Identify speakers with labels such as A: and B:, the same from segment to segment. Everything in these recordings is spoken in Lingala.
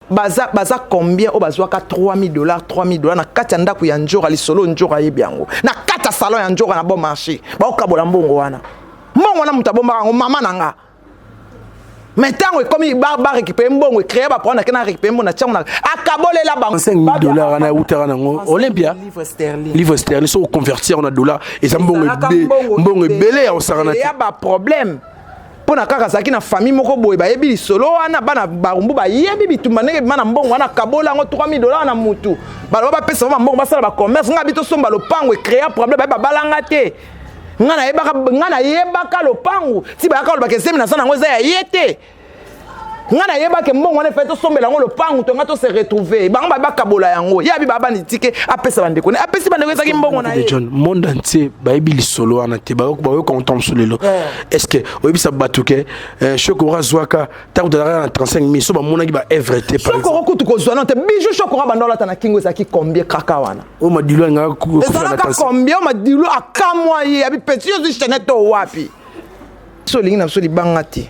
A: baza baza combien oyo bazwaka 3000 dollars 3000 dollars na kati ya ndako ya njora lisolo njora ayebi yango na kati ya salon ya njora na bon marché baokabola mbongo wana mbongo wana moto abombaka yango mama na nga mais ntango ekomi barécupere mbongo ecree baproa nake na récupere mbongo na tiango na akabolela bango 5000 dollar wana eutaka
B: nango olympia livre sterling soki oconvertir na dollar eza mbongo ebele ya kosakana te ya baproblème
A: mpo na kaka azalaki na famille moko boye bayebi lisolo wana bana barumbu bayebi bitumba ndenge bima na mbongo wana kabola yango 3000 dollars na mutu baloba bapesa bango mbongo basala bacommerce ngai bi tosomba lopango ecrea problème baye babalanga te ngai nayebaka ngai nayebaka lopango ti bayaka olobaka ezemi naza nango eza ya ye te nga nayeba ke mbongo wana efai tosombela yango lopangu to nga to se retrouver bango baye bakabola yango ye abi babani tike apesa bandeko ne apesi bandeko ezalaki mbongo na ye john monde entier
B: bayebi lisolo wana te bayoka konta mosu lelo eh. est ce que oyebisa bato ke eh, shokora azwaka ntango tozalaka na 35 mille so bamonaki ba evre te shokora kutu kozwa no te
A: bijou shokora banda olata na kingo ezalaki combien kaka wana oyo madilu
B: alingakaezalaka combien oyo
A: madilu akamwa ye abi peti ozwi chanete oyo wapi so olingi na biso libanga te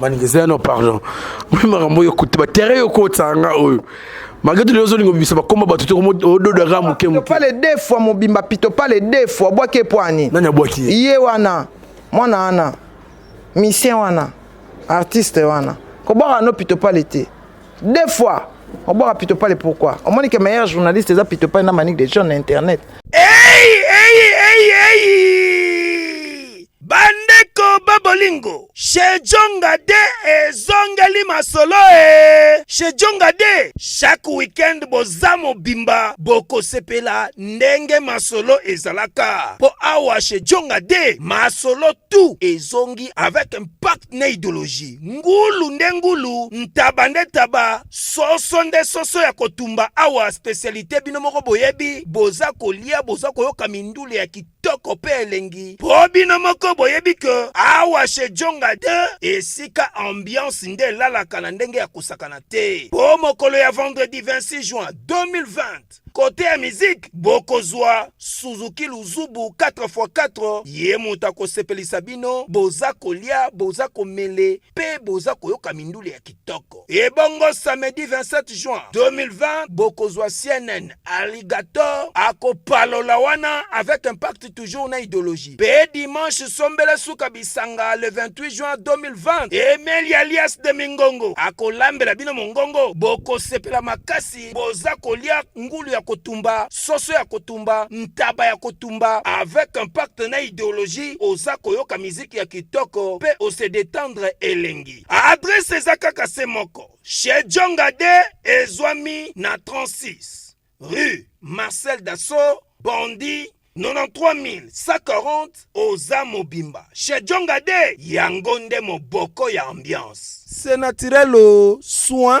A: manigeza
B: no pardon mpe makambo oyo okuti batere yo kotisa nga oyo malgré tout ozo lingo bimisa bakoma bato te ododo aka moke moke pale deux fois mobimba
A: pito pale deux fois bwaki epwani nani abwaki ye ye
B: wana
A: mwana wana misien wana artiste wana kobwaka no pito pale te deux fois obwaka pito pale pourquoi omoni ke meilleur journaliste eza pito pale na manique de john na internet hey,
C: hey, hey, hey. Bandeko ba bolingo, Shejonga de ezongeli masolo e Shejonga de chaque weekend boza mobimba bokosepela ndenge masolo ezalaka po awa Shejonga de masolo tout ezongi avec impact na ideologie ngulu nde ngulu ntaba nde taba soso nde soso ya kotumba awa specialite bino moko boyebi boza kolia boza koyoka mindule ya kit kitoko pe elengi po bino moko boyebi ke awa chez Djonga 2 esika ambiance nde elalaka na ndenge ya kosakana te po mokolo ya vendredi 26 juin 2020 kote ya miziki bokozwa suzuki luzubu 4x4 ye moto akosepelisa bino boza kolia boza komele pe boza koyoka mindule ya kitoko kitoko. Ebongo samedi 27 juin 2020 bokozwa CNN Alligator akopalola wana avec impact toujours na ideologie. Pe dimanche sombela suka bisanga le 28 juin 2020 Emeli alias de Mingongo akolambela bino mongongo, bokosepela makasi, boza kolia ngulu ya kotumba, soso ya kotumba, ntaba ya kotumba avec impact na ideologie, oza koyoka miziki ya kitoko pe ose detendre elengi. Adresse eza kaka se moko chez Djonga de ezwami na 36 rue Marcel Dassault Bondi 93140 oza mobimba chez Djonga de yango nde moboko ya ambiance c'est naturel soin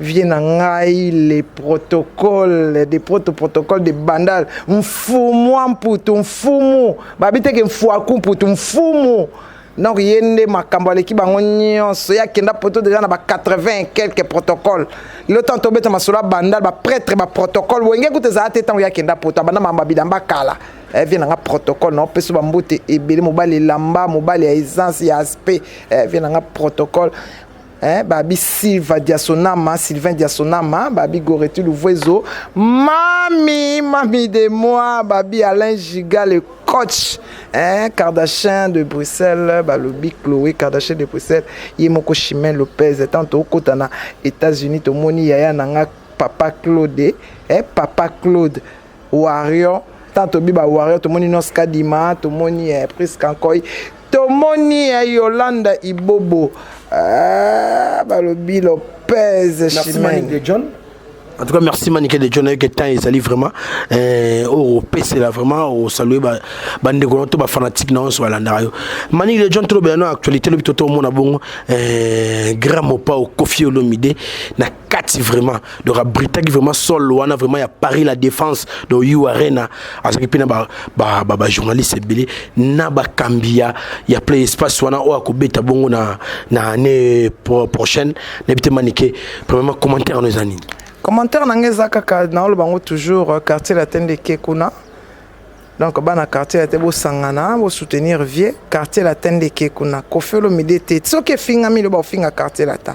A: Vieux na ngai le protocole de proto protocole de bandal mfumua mputu mfumu babi teke mfuaku mputu mfumu donc ye nde makambo aleki bango nyonso ye akenda poto deja na ba 80 quelque protocole lelo ntango tobeta masolo ya bandal bapretre baprotocole wenge kuta ezala te ntango ye akenda poto abanda makambo ya bilamba kala eh, vie nanga protocole na opesa bambote ebele mobali elamba mobali ya essence ya aspect eh, vie nanga protocole eh, babi silva diasonama sylvain diasonama babi goreti luvuezo mami mami de moi babi alain giga le coach eh, kardachin de bruxelles balobi chloé kardachin de bruxelles ye moko chimin lopez ntango tokokota na états-unis tomoni yaya na nga papa claude eh, papa claude Warrior tant tobi ba warrior tomoni nos kadima tomoni eh, prise kankoi tomoni eh, yolanda ibobo ah, balobi lopez chimene john
B: en tout cas merci manike de john ayeke temps ezali vraiment eh, oyo opesela vraiment osalue bandeko na to bafanatique na nyonso balandaka yo manike de john tolobela na actualité lobi totomona bongo eh, grand mopao kofi olomide na kati vraiment donc abritaki vraiment sol wana vraiment ya paris la défense de u arena azalaki mpe na bajournaliste ba, ba, ba ebele na bakambi ya, ya play espace wana oyo akobeta bongo na, na année pro, prochaine nayebi te manike premièrement commentaire wana eza nini commentaire na ngai eza
A: kaka naoloba yango toujours euh, quartier latin de kekuna donc bana quartier ya te bosangana bosoutenir vieux quartier latin de kekuna kofi olomide te soki efingami loba ofinga quartier latin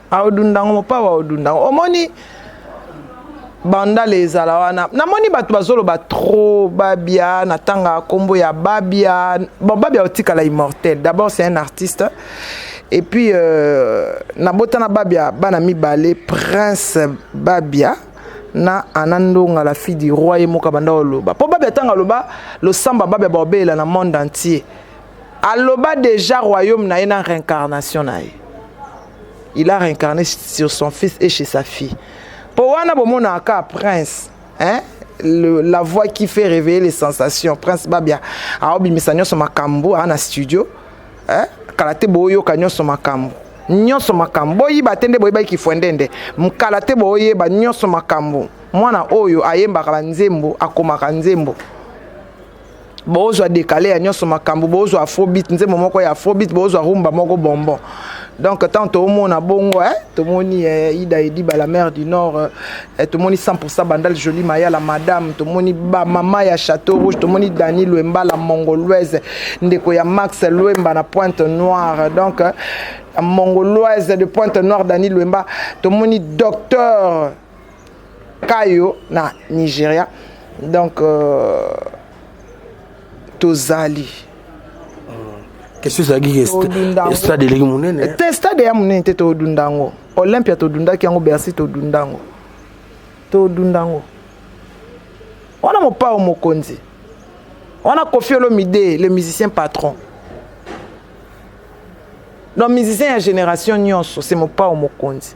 A: aodundango mopao aodundango omoni bandale ezala wana namoni bato bazoloba trop babia natanga nkombo ya babia bon babia otikala immortel d'abord c'est un artiste et puis euh, nabotana babia bana mibale prince babia na ana ndonga la fille du roi ye moko abanda oloba mpo babia ntango aloba losamba babia baobelela na monde entier aloba déjà royaume na ye na réincarnation na ye il a réincarné sur son fils et chez sa fille mpo wana bomonaka kaka prince hein? Le, la voix qui fait réveiller les sensations prince babia aobimisa nyonso makambo aa na studio hein? kala te boyoka nyonso makambo nyonso makambo boyiba te nde boyebaki kifwendende mkala te boyeba nyonso makambo mwana oyo ayembaka banzembo akomaka nzembo bozwa dekale ya nyonso makambo bozwa afrobit nzembo moko ya afrobit bozwa rumba moko bonbon donc ntango toomona bongo eh, tomoni eh, ida ediba la mare du nord eh, eh tomoni 100 bandal joli maya la madame tomoni bamama ya chateau rouge tomoni dani lwemba la mongoloise ndeko ya max lwemba na pointe noire donc eh, mongoloise de pointe noire dani lwemba tomoni docteur kayo na nigeria donc euh, tozali
B: question ezalaki ke sta- Todunda yango. stade eleki monene te stade ya monene te
A: todunda yango olympia todundaki yango bercy todunda yango todunda yango wana mopao mokonzi wana kofi olomide le musicien patron donc musicien ya génération nyonso se mopao mokonzi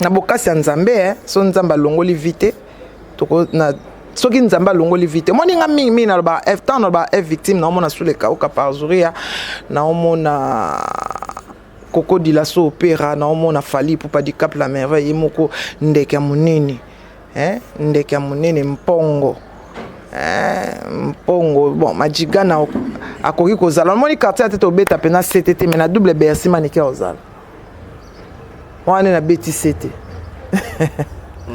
A: na bokasi ya nzambe eh, so nzambe alongoli vi te na soki nzambe alongoli vi te omoni nga mingi mingi naloba eh, ntango naloba f eh, victime naomona sule kauka parzuria naomona koko dilaso opera naomona fali pupa dicap la merveille ye moko ndeke ya monene eh, ndeke ya monene mpongo eh, mpongo bon majigana akoki kozala omoni quartier ya te tobeta mpe na sete te mai na double bersi manike ozala wana nde nabeti sete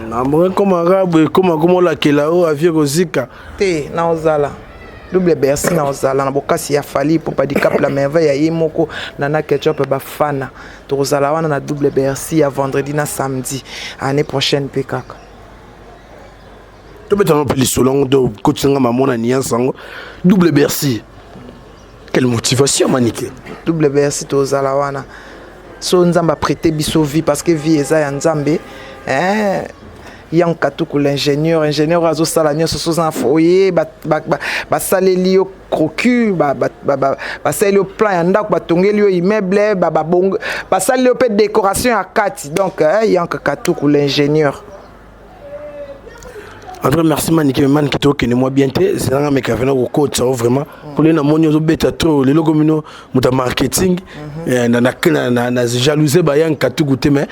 B: namongi ekoma kaka boye ekoma koma olakela oyo avie kozika te naozala
A: double bercy naozala na bokasi ya fali mpo padicap la merveille ya ye moko nana ketchup bafana tokozala wana na double bercy ya vendredi na samedi année prochaine mpe kaka
B: tobetana mpe lisolo yango to kotisanga mamona niance yango double bercy Quelle motivation Manike WBS
A: tozala wana so nzambe aprete biso vie parce que vie eza ya nzambe eh, yang katuku l'ingénieur ingénieur oyo azosala nyonso soza na foye basaleli yo crocu basaleli yo plan ya ndako batongeli yo immeuble basaleli yo mpe décoration ya kati donc eh, yang katuku l'ingénieur
B: En tout cas, merci Manike, mais Manike to kende moi bien te, c'est là mais kavena ko coach ça vraiment. Pour les na monio zo beta to, les loko mino muta marketing, mhm. eh, na na na na na jalouse ba yan katugu te mais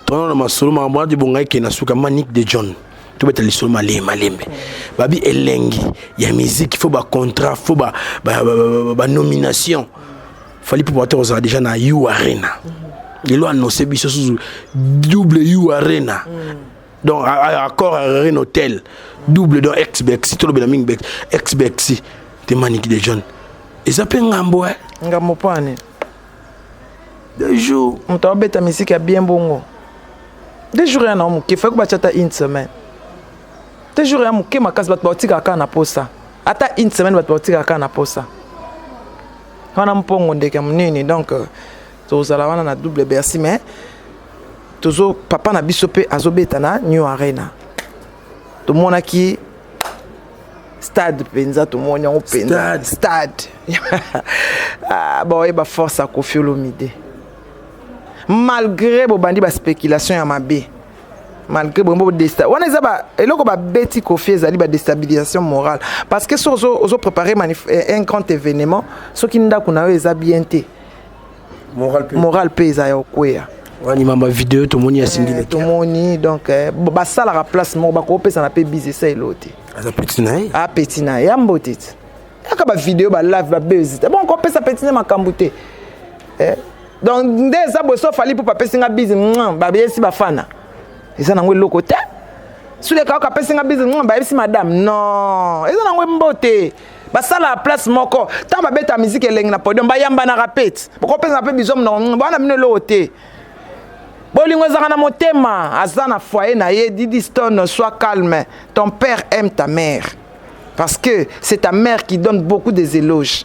B: to na masolo ma mwa di bonga ke na suka Manike de John. To beta lisolo male malembe. Mhm. Babi elengi ya musique, faut ba contrat, faut ba ba, ba, ba, ba, ba nomination. Mm -hmm. Fally Ipupa te kozala deja na U Arena lelo annonce biso susu double U Arena donc accord Arena Hotel double donc ex Bexi tolobela mingi Bexi ex Bexi te Maniki de John eza mpe ngambo eh ngambo mpo ani deux jours moto abeta misiki
A: ya bien bongo deux jours ya na moke faki batya ata une semaine deux jours ya moke makasi bato baotikaka kaka na posa ata une semaine bato baotikaka kaka na posa wana mpongo ndeke ya monene donc euh, tozala wana na double bercy mais tozo papa na biso mpe azobeta na new arena tomonaki stade mpenza tomoni yango mpenza stade ah, baoyeba force ya kofi olomide malgré bobandi baspéculation ya mabe malgré bongo bodesta wana eza ba eloko babeti kofi ezali badestabilisation morale parce que soki ozo préparer eh, un grand événement soki ndako na yo eza bien te morale mpe eza ya okweya wani mamba video
B: tomoni ya singile eh, tomoni donc
A: eh, basalaka place moko bakopesana mpe bizesa elo te aza peti na ye
B: apeti ah, na ye ya mbote
A: te yaka bavideo balave babezita bon kopesa peti nde makambo te donc nde eza boye so fali pupa apesi nga bizi babesi bafana eza nango eloko te suleka oka apesi nga bizi bayebisi madame non eza nango mbote basala place moko ntango babeta miziki elengi na podium bayambanaka pete bokopesana mpe bizo mnongo bana bino eloko te bolingo ezalaka na motema aza na foyer na ye didiston soit calme ton père aime ta mère parce que c'est ta mère qui donne beaucoup des éloges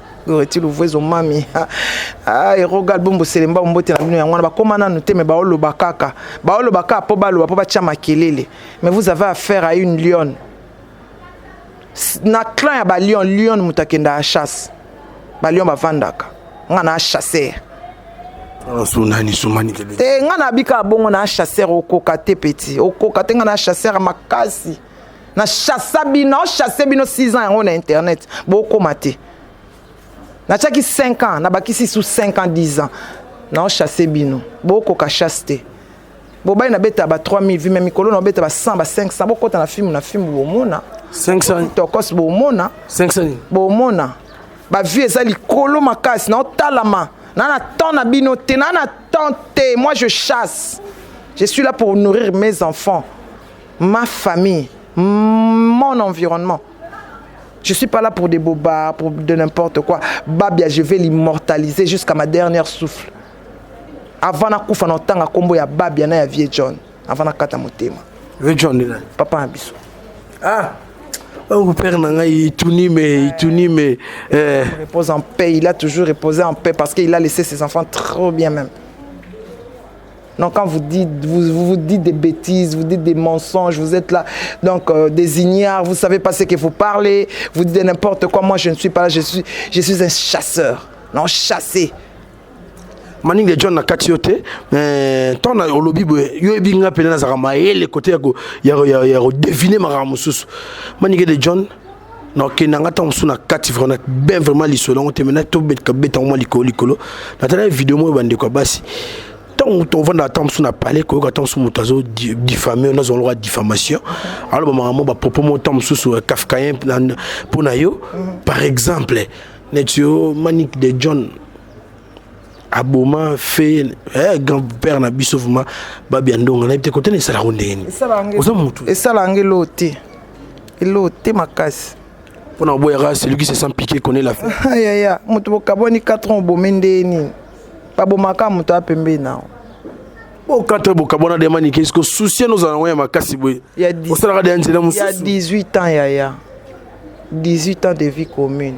A: Goreti Luvuezo mami ah, eroga album boselemba mbote na bino yango wana bakoma nanu te me baoloba kaka baoloba kaka mpo baloba mpo batya makelele mais vous avez affaire à une lionne na clan ya balion lion moto akenda ya chasse balion bavandaka nga na chasser
B: te nga nabika
A: bongo na chasser okoka te peti okoka te nga na chasser makasi na chassa bino na chasse bino 6 ans yango na internet bokoma te natiaki 5 ans nabakisi su 5 ans 10 ans na chasse bino bokoka chasse te bobali nabeta ba 3000 vi me mikolo naobeta ba 100 ba 500 bokota na filme na filme bomona 500
B: tokos bomona
A: 500
B: bomona
A: bavue eza likolo makasi naotalama na na temps na bino te na na temps te moi je chasse je suis là pour nourrir mes enfants ma famille mon environnement Je suis pas là pour des bobards, pour de n'importe quoi. Babia, je vais l'immortaliser jusqu'à ma dernière souffle. Avant na kufa na tanga kombo ya Babia na ya vieux John. Avant na kata motema. Vieux John là.
B: Papa na biso.
A: Ah.
B: Oh, père na ngai ituni mais ituni mais
A: euh... il repose en paix, il a toujours reposé en paix parce qu'il a laissé ses enfants trop bien même. Donc quand vous dites, vous, vous, vous, dites des bêtises, vous dites des mensonges, vous êtes là, donc euh, des ignares, vous savez pas ce que vous parlez, vous dites n'importe quoi, moi je ne suis pas là, je suis, je suis un chasseur, non chassé.
B: maninga john na kati yo te mais ntango na olobi boye yo yebi nga mpena nazalaka mayele kote ya kodevine makambo mosusu maninga de john na okenda nga ntango mosusu na kati vraimen ben vraiment lisolo yango te mena tobeta yango mwa likolo likolo natala video moko bandeko ya basi ntango tovandaka ntango mosusu na palais koyoka ntango mosusu moto azo diffame oyo nazwa lokola diffamation aloba makambo bapropos moko ntango mosusu kafkayen mpo na yo par exemple neti yo manik de john aboma fe eh, grand père na biso vraiment babi ya ndonga nayebi te kotana esala yango ndenge nini oza motu esala
A: yango eloo te eloo te makasi mpo na oboyaka
B: celui qui se sent piqué connaît la fin yaya moto
A: bokabwani 4 ans obomi ndenge nini babomaka moto ya pembeni nao o
B: 4 bokabwana de manike eske susi ena ozala yango ya makasi boye osalaka de ya nzela mosusu
A: ya 18 ans yaya 18 ans de vie commune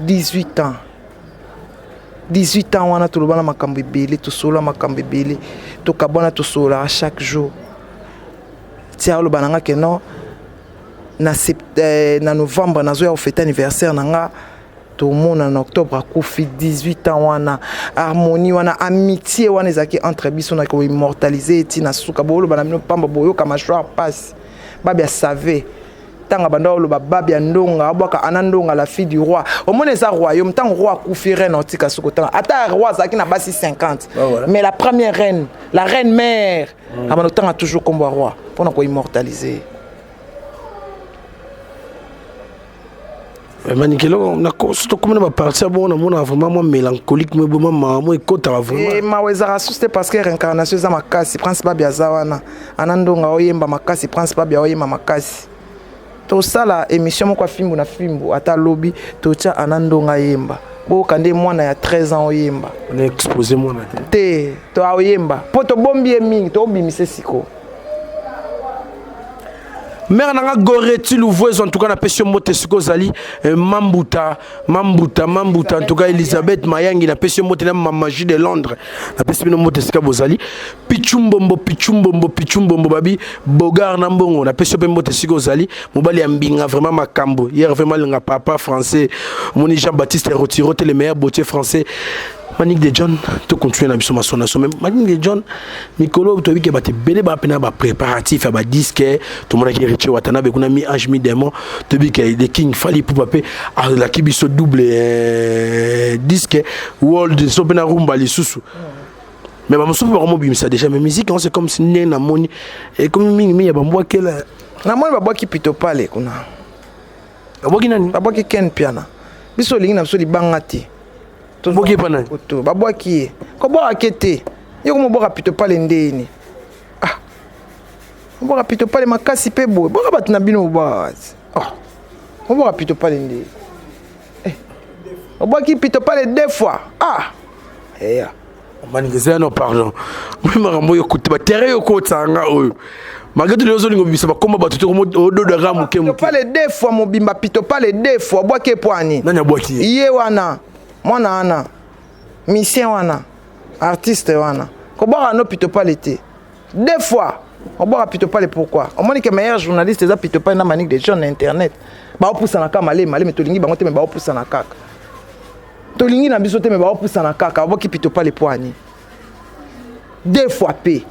A: 18 ans 18 ans wana tolobana makambo ebele tosolola makambo ebele tokabwana tosololaka chaque jour ti aloba na nga ke non na, sept, eh, na novembre nazoya kofete anniversaire na nga tomona na octobre akufi 18 ans wana harmonie wana amitié wana ezalaki entre biso na koimmortalise eti na suka boloba na bino mpamba boyoka mashwar mpasi babia save tanga banda oloba babia ndonga abwaka ana ndonga la fille du roi omoni eza royaume ntango roi akufi reine otika soko tanga ata roi azalaki na basi 50 ah mais la première reine la reine mère mm. abanda otanga toujours nkombo ya roi mpo na koimmortalise
B: Eh, manikelo nakoso tokomi na baparti ya bongo namonaka vraiment mwa mélancolique mo eboma mawa mo ekotaka vraiment eh, mawa ezalaka susu te
A: parce que réincarnation eza makasi prince babi aza wana ana ndonga oyemba makasi prince babi aoyemba makasi tosala émission moko ya fimbu na fimbu ata lobi totya ana ndonga ayemba boyoka nde mwana ya 13 ans oyemba naexpose
B: mwana te te to
A: aoyemba mpo tobombi ye mingi tobimisa sikoyo
B: mère na nga goreti luvuezo en tout cas napesi yo mbote soki ozali eh, mambuta mambuta mambuta en tout cas elisabeth mayangi napesi yo mbote na mamagie de londres napesi bino mbote esika bozali pichumbombo pichumbombo pichumbombo babi bogar na mbongo napesi yo mpe mbote esika ozali mobali ya mbinga vraiment makambo hier vraiment linga papa français moni jean baptiste rotiro te le meilleur botier français Manick de John to continuer na biso masona so même Manick de John mikolo to bike ba te belé ba pena ba préparatif ya ba disque to mona ki Richie Watanabe kuna mi ange mi démon to bike de King Fally pour pape a la ki biso double euh, disque world so pena rumba lisusu mais ba musufu ba ko mobimisa déjà mais musique c'est comme si né na moni et comme mingi mi ya ba mbwa kela na moni ba bwa ki
A: pito pale kuna
B: babwaki nani babwaki ken piana
A: biso olingi na biso libanga te tobwaki epa
B: nani babwaki ye
A: kobwaka ke te ye komobwaka pito pale ndeyini ah mobwaka pito pale makasi mpe boye bwaka bato na bino mobwaka wazi ah mobwaka pito pale nde eh. obwaki pito pale deux fois ah eya eh, yeah.
B: manigeza no pardon mpe makambo oyo okuti batere yo kotisa nga oyo malgré tout ozo lingo bimisa bakoma bato te ododo aka moke moke pale deux fois mobimba
A: pito pale deux fois bwaki epwani nani abwaki ye ye
B: wana
A: mwana wana misien wana artiste wana kobwaka no pito pale te deux fois obwaka pito pale pourquoi omoni ke meilleur journaliste eza pito pale na manique de john na internet baopusana kaka malema malema tolingi bango te me baopusana kaka tolingi na biso te me baopusana kaka oboki pitopale pwani deux fois pe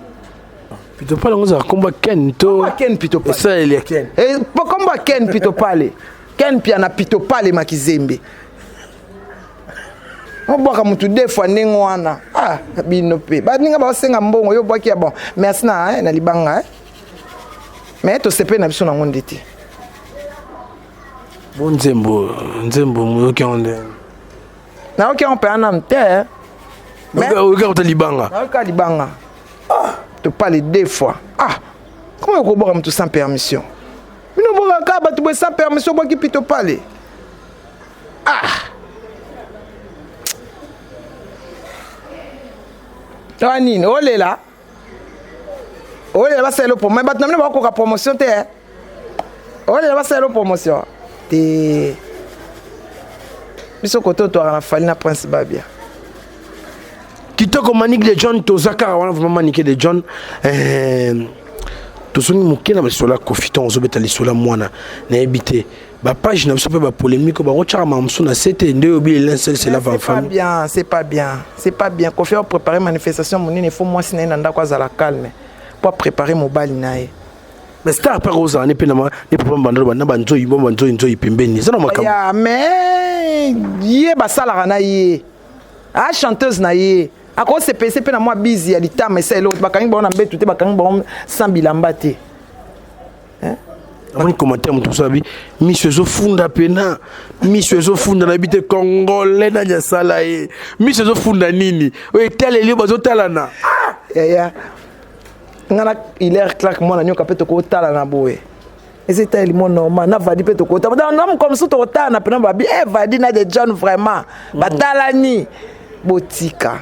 A: pitopale
B: yango ezalaka komba ken to ken pitopale esaleli
A: ya ken eh,
B: komba
A: ken pitopale ken pia na pitopale makizembe obwaka motu deux fois ndenge wana ah bino mpe baninga baosenga mbongo yo obwaki ya bon merci na, eh, na libanga eh. mais tosepeli na biso nango nde te
B: Bon nzembo, nzembo moyoki yango nde.
A: Nayoki yango
B: mpenza
A: nanu te. Oyoki yango ta
B: libanga. Nayoki
A: kaka libanga. Ah. To parle deux fois. Ah. Comment okobwaka moto sans permission? Bino bwakaka bato boye sans permission obwaki pito pale. Ah. Tawa nini olela? olela basalela promo me bato na bino bakokoka promotion te eh. olela basalela promotion te biso kote otwaka na fali na prince babia kitoko
B: manike de john toza kaka wana vraimen manike de john eh, tozongi moke na lisolo ya kofi ntango ozobeta lisolo ya mwana nayebi te ba page na biso mpe ba polémique oyo bakotyaka makambo mosusu na se te nde oyo bile lin sel sela va famille bien c'est pas bien
A: c'est pas bien kofi apreparer manifestation monene fo mwasi na ye na ndako azala calme mpo apreparer mobali na ye mais star
B: mpe akozala ne mpe na papa mbandalo bana banzoyi bo banzoyi nzoyi pembeni eza na makambo ya mais
A: ye basalaka na ye a ah, chanteuse na ye akosepese mpe na mwa bizi ya litama esa eloko bakangi bango na mbetu te bakangi bango sans bilamba te amoni
B: commentaire moto mosusu abi miso ezofunda pena miso ezofunda nayebi te congolais nani asala ye miso ezofunda nini oyo etaleli yo bazotalana ah! yaya
A: ngai na hilaire clark mwana nyoka mpe tokotalana boye eza etaleli mo normal na vadi mpe tokotana na mokolo mosusu tokotalana mpena babi e eh, vadi na de john vraiment mm. batalani botika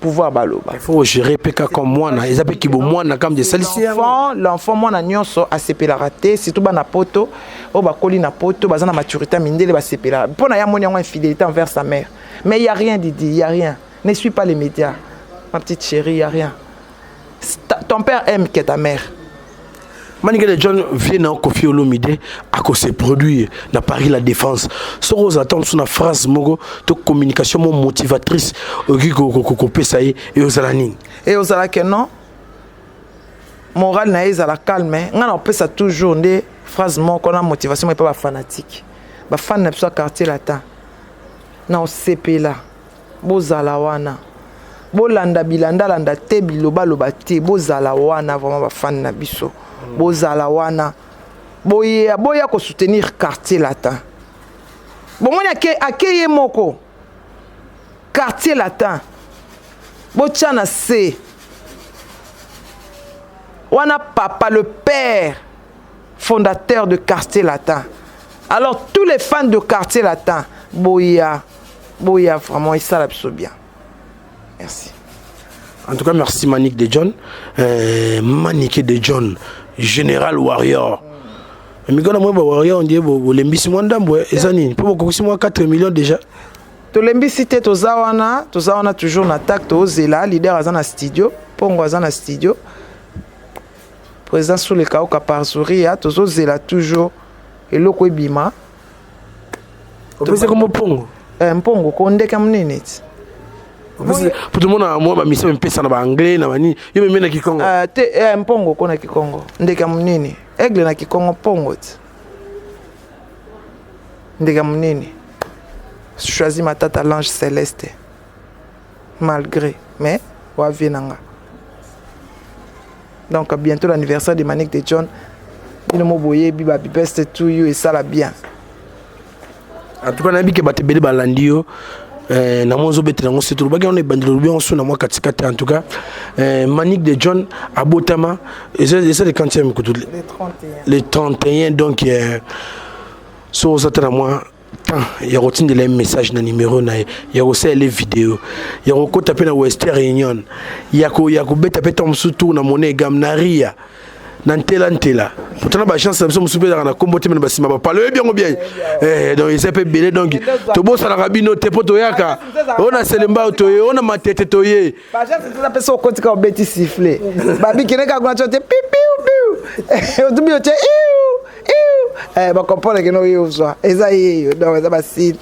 A: pouvoir baloba il faut gérer peka
B: comme mwana eza pe kibo mwana kam de salisi l'enfant l'enfant mwana
A: nyonso asepelaka te surtout bana poto oyo bakoli na poto baza na maturité mindele basepelaka mpo na ye amoni yango infidélité envers sa mère mais il y a rien didi il y a rien ne suis pas les médias ma petite chérie il y a rien ton père aime que ta mère manikele
B: john vie na kofi olomide akose produire na paris la défense soki oza ta mosusu na phrase moko to communication mo motivatrice okoki kopesa ye eyozala nini eyozala ke non
A: morale na ye ezala calme ngai nakopesa toujours nde phrase moko na motivation epa bafanatike bafani na biso ya quartier latin na osepela Bozala wana. Bolanda bilanda landa te biloba loba te. Bozala wana vraiment ba fan na biso. Mm. Bozala wana. Boye boya ko soutenir quartier latin. Bomoni ake akeye moko. Quartier latin. Botya na se. Wana papa le père fondateur de quartier latin. Alors tous les fans de quartier latin boya boya vraiment esala biso bien merci
B: en tout cas merci manique de john euh, manique de john général warrior mikolo mwa bawarrior ondie bolembisi mwa ndambo eh, eza nini mpo bokokisi mwa 4 million déjà tolembisi
A: te toza wana toza wana toujours na tak tozela leader aza na studio mpongo aza na studio président sulekauka parzuria tozozela toujours eloko ebima
B: opesi kombo mpongo eh, mpongo ko ndeke
A: ya monene ti
B: po tomona mwa bamisa mipesa na baanglais na banini yo meme na kikongo ah, te eh, mpongo ko
A: na kikongo ndeke ya monene aigle na kikongo mpongo ti ndeke ya monene choisi matata lange celeste malgre mais oa vie na nga donc bientôt l'anniversaire de manique de john bino mo boyebi ba best to you esala bien
B: en tout cas nayebi ke bato ebele balandi yo eh, na mwa ozobetela yango surtout olobaki yango na ebandeli olobi yango so na mwa katikati en tout cas eh, manique de john abotama eza le quantième kutu le 31 donc eh, so oza te na mwa temps ya kotindela ye message na numero na ye ya kosalela ye video ya kokɔta mpe na western union ya kobeta mpe ntango mosusu tour na mone egame na ria na ntela ntela pourtant na baagence na biso mosusu mpe ezalaka na nkombo te mena basima bapalo oyebi yango bien eh, donc eza mpe ebele donc tobosanaka bino te mpo toyaka oyo na selembao toye oyo na matete toye pesa
A: okoti kaka obeti sifle babikende kaka kuna tyo te pipiu piu otubi otye iu eh, bacomprendre keno oyo ozwa eza yeyo donc eza basile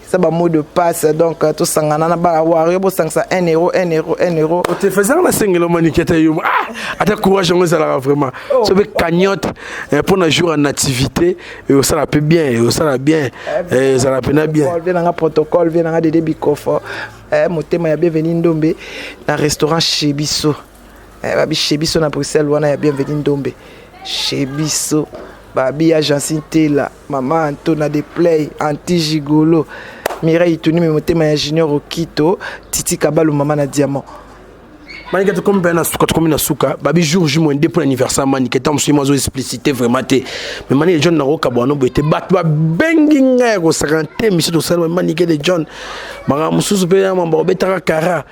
A: eza bamot de passe donc euh, tosangana na bana wario bosangisa 1 euro 1 euro 1 euro otefesaka na sengelo
B: maniki ata yo ah, ata courage yango ezalaka vraiment oh. so mpe cagnotte eh, mpo na jour ya nativité eh, osala mpe bien osala bien eh, ezala mpena bien vie nanga protocole vie
A: nanga dede bikofo motema ya bienveni ndombe na restaurant chez biso eh, babi chez biso na bruxelles wana ya bienveni ndombe chez biso babi ya jansi ntela mama antona de play anti gigolo mireille tunimi motema ya junior okito titi kabalu mama na diamant manike
B: tokomi mpe na suka tokomi na suka babi jour ju moyen de mpo na anniversaire manike ntango mosusu ye mazo explicité vraiment te mais manike john nakokabwana no boye te bato babengi ngai ya kosaka te misu tosali manike de john makambo mosusu mpe ya mambo obetaka kara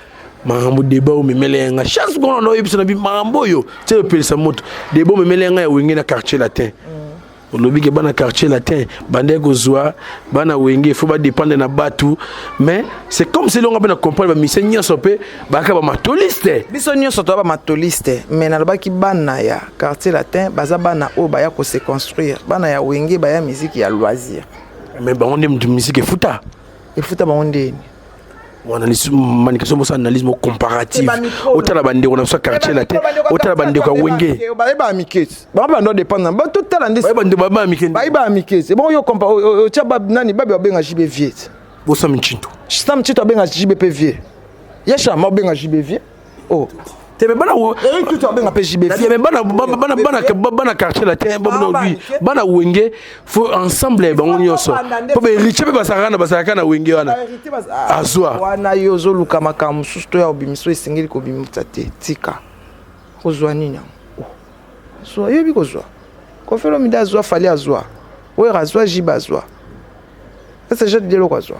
B: makambo deba oyo memele ya ngai chance kona na oyebisa na bi makambo oyo tse opelisa moto deba oyo memele ya ngai ya wenge na quartier latin mm. olobi ke bana quartier latin bandaki kozwa bana wenge fo badépendre na bato mais c'est comme se elonga mpe na comprendre bamisie nyonso mpe bayaka bamatoliste biso nyonso toya
A: bamatoliste mais nalobaki bana ya quartier latin baza bana oyo baya kose construire bana ya wenge baya miziki ya loisir mais bango nde
B: moto miziki efuta efuta bango
A: ndeni
B: manikeso mosa analyse mo comparative otala bandeko na biso ya quartier na te otala bandeko ya wenge bayeba mikesi
A: bango bando dépendre na bato tala nde bayeba mikesi
B: bayeba mikesi ebongo
A: yo compa otya nani babi babenga jibe vieux bosa mincinto
B: sam cinto abenga jibe
A: mpe vieux ye shama obenga jibe vieux oh tebe bana wo
B: Eric Tutu abenga pe JB
A: tebe bana bana
B: bana bana bana quartier latin bana lui bana wenge faut ensemble ya bango nyonso po ba héritier pe basaka na basaka na wenge wana azwa ah, wana yo zo
A: luka makambo susu to ya obimiso esengeli ko bimisa te tika kozwa nini yango oh. zwa yebi kozwa kofelo mida azwa fali azwa wera azwa jiba azwa ese jete dieloko azwa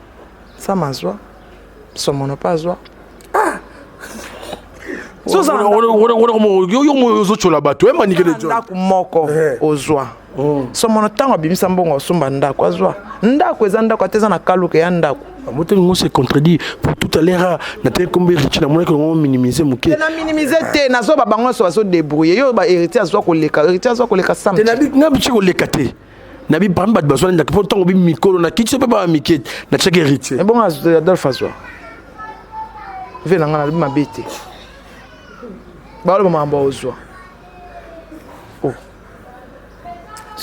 A: sama azwa somono mpe azwa
B: ah! ozocola bato ndako moko eh.
A: ozwa oh. somono ntango abimisa mbongo osomba ndako azwa ndako eza ndako ata eza na kaluka ya ndako moteli ngo se contredit
B: pour tout à l'heure natali kombe héritier namonaki yango minimise moke na minimise te
A: nazoba bango nyonso bazodebrouille yo ba héritier azwa koleka héritier azwa koleka samte na bici koleka
B: te na bi parmi bato bazwani ndaka mpo ntango bi mikolo na kiti so mpe baa mike na tiaki héritier ebongo eh,
A: adolphe
B: azwa
A: ve na ngai nalobi mabe te baloba makambo ozwa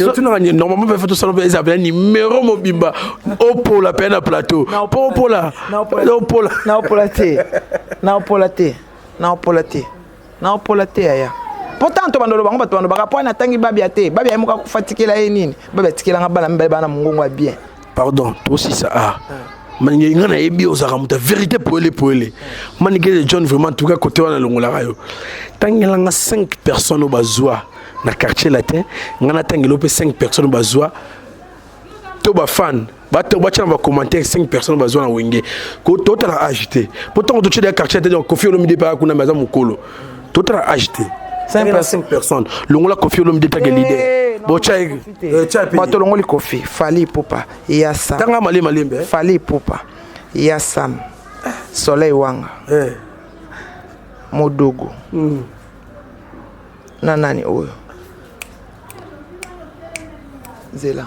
B: otunaka oh. normalement mpe tosala mpe eza pena numero mobimba opola mpe na plateau mpo opola opola te na opola te
A: na opola te nao pola te yaya mpo ntango to bandolo bango bato bandobaka mpo natangi babia te babia ye moko akufa tikela ye nini babia tikela nga bana mibale bana mongongo ya bien pardon tosisa
B: a ah. manike nga nayebi ozalaka moto ya vérité poele poele manike de john vraiment tuka kote wana alongolaka yo tangela nga 5 personnes oyo bazwa na quartier latin nga natangela yo mpe 5 personnes oyo bazwa to bafane bato batya na bacommentaire 5 personnes bazwa na wenge totala age te mpo ntango totyela ya quartier te kofi olomide mpe akuna me aza mokolo totala age te 5 personnes longola kofi olomide take eh, lider eh, bato olongoli
A: kofi fali pupa ya sam tanga malembe malembe eh. fali
B: pupa
A: ya sam soleil wanga modogo hmm. na nani oyo zela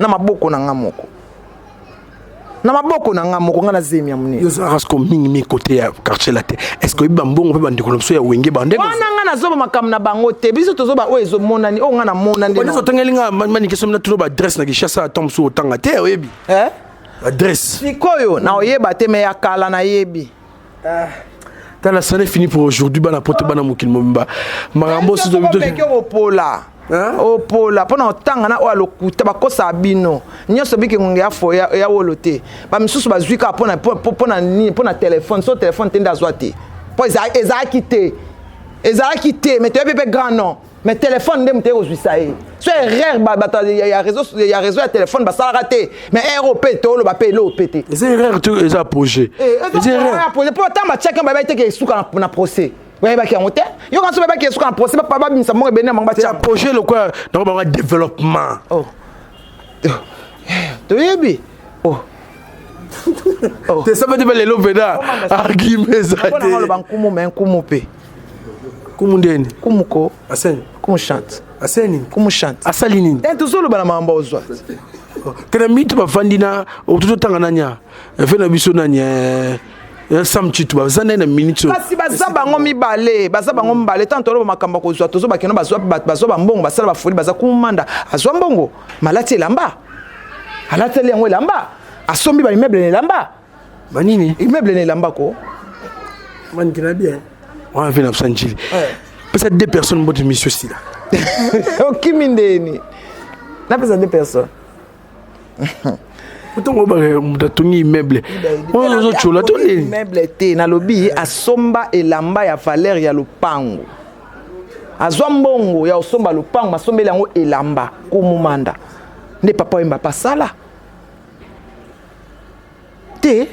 A: na maboko na nga moko na maboko na nga moko nga na zemi ya monene yo ozalaka siko mingi mingi
B: kote ya quartier latin est ce que oyebi bambongo mpe bandeko na biso ya wenge bandeko wana nga nazoba makambo
A: na bango te biso tozoba oyo ezomonani oyo nga namona nde oneso otangeli nga
B: manike somi natuno baadresse na kishasa ata mosusu otanga te oyebi eh? adresse sikoyo na
A: oyeba te me ya kala nayebi Ah.
B: Tala ça n'est fini pour aujourd'hui bana pote bana mokili mobimba. Makambo sizo bito. Pola. Hein? Opola
A: oh, pona otanga na oyo alokuta bakosa bino nyonso biki ngonge ya fo ya wolo te bamisusu bazwi kaka pona pona nini pona telefone so telefone te nde azwa te mpo ezalaki te ezalaki te mais toyebi mpe grand nom mais telefone nde moto ekozwisa ye so erreur bato ya réseau ya telefone basalaka te mais erreur oyo mpe toloba mpe eloo mpe te eza erreur to eza
B: projet
A: projet mpo ntango batiaki yango bayebaki te ke esuka na procès bayebaki yango te yo kanso bayebaki esuka na procès babimisa moko ebende na bango batia projet lokola nako
B: bango développement
A: oh. toyebi oh.
B: oh. te sabati mpe lelo mpena argume eza te nkumu me
A: nkumu mpe kumu
B: ndeni kumu ko
A: aseni kumu
B: chante
A: aseni kumu
B: chante asali
A: nini eh tozoloba
B: na makambo
A: ozwa tena
B: mitu bafandi na tototanga nania efe na biso nania eh, eh, sam chitu baza nde na minute kasi baza bango
A: mibale baza bango mibale ntango toloba makambo ya kozwa tozwa bakeno bazwa bazwa bambongo basala bafoli baza kumanda azwa mbongo malati elamba alateli yango elamba asombi baimeble na elamba banini
B: immeuble na elamba ko manike na bien wana mpe na biso njili pesa deux personnes mbote misio sila okimi
A: ndeni napesa deux personnes
B: ntango obaka moto atongi immeuble oyo ozotyola to nini immeuble te nalobi
A: asomba elamba ya valeur ya lopango azwa mbongo ya kosomba lopango asombeli yango elamba kumumanda nde papa oyemba pasala te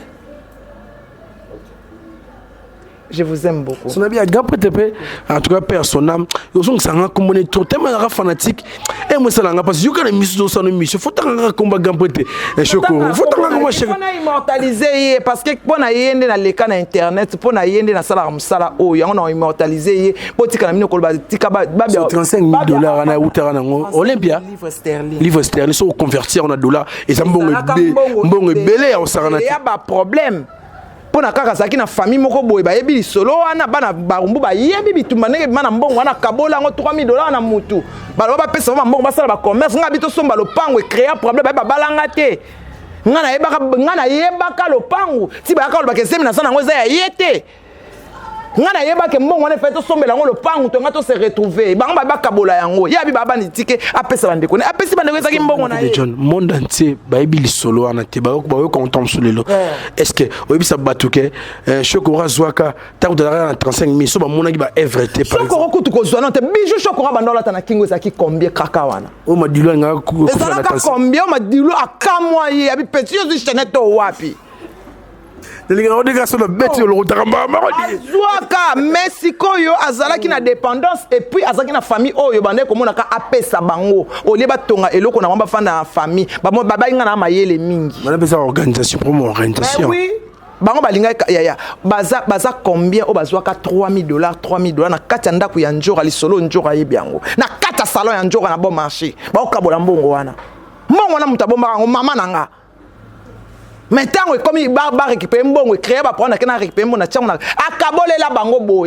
A: je vous aime beaucoup sona bi aga prete pe
B: en tout cas père son âme yozong sanga kombo ne trop tellement nga fanatique et moi ça nga parce que yoka na misu do sanu misu faut tanga nga komba ga prete et choko faut tanga nga chef on a immortalisé
A: ye parce que pona yende na leka na internet pona yende na sala musala o yango na immortalisé ye botika na mino koloba tika ba ba 35
B: dollars na utara na ngo olympia livre sterling livre sterling soki oconverti yango na dollar eza mbongo ebele mbongo ebele ya kosangana ya baproblème
A: mpo na kaka azalaki na famille moko boye bayebi lisolo wana bana barumbu bayebi bitumba ndenge bima na mbongo wana akabola yango 3000 dollars na mutu baloba bapesa bango bambongo basala bacommerce ngai bitosomba lopango ecrea problème baye babalanga te ngai nayebaka lopango ti bayaka olobaka ezemi naza nango eza ya ye te nga nayebake mbongo wana efai tosombela yango lopangu to nga tose retrouve bango babi bakabola yango ye abi baba nitike apesa bandeko ne apesi bandeko ezaki mbongo na ye john monde entier
B: bayebi lisolo wana te bayoka moto mosusu lelo est ce que oyebisa bato ke eh, shokoro azwaka ntango tozalaka na 35 mille so bamonaki baevre te shokoro kutu kozwa no te
A: bijou shokoro abanda olata na kingo ezalaki combien kaka wana o madilu alingaka
B: ezalaka combien o
A: madilu akamwa ye abi peti ozwi chanete to wapi nalingaka odeka so nabeti yo lokotaka mbaa moko azwaka mais sikoyo azalaki na dépendance epuis azalaki na famille oyo bandaki komonaka apesa bango olie batonga eloko na bango bafanda na famille babai ngai na mayele mingi banapesa organisation
B: promo organisation bango
A: balingaki yaya baza, baza combien oyo bazwaka 3000 dollars 3000 dollars na kati ya ndako ya njora lisolo njora ayebi yango na kati ya salon ya njora na bon marché baokabola mbongo wana mbongo wana moto abombaka yango mama na ngai mais ntango ekomi ba récupérer mbongo ecréa baproblème na kena récupérer mbongo na ntiango na akabolela bango boye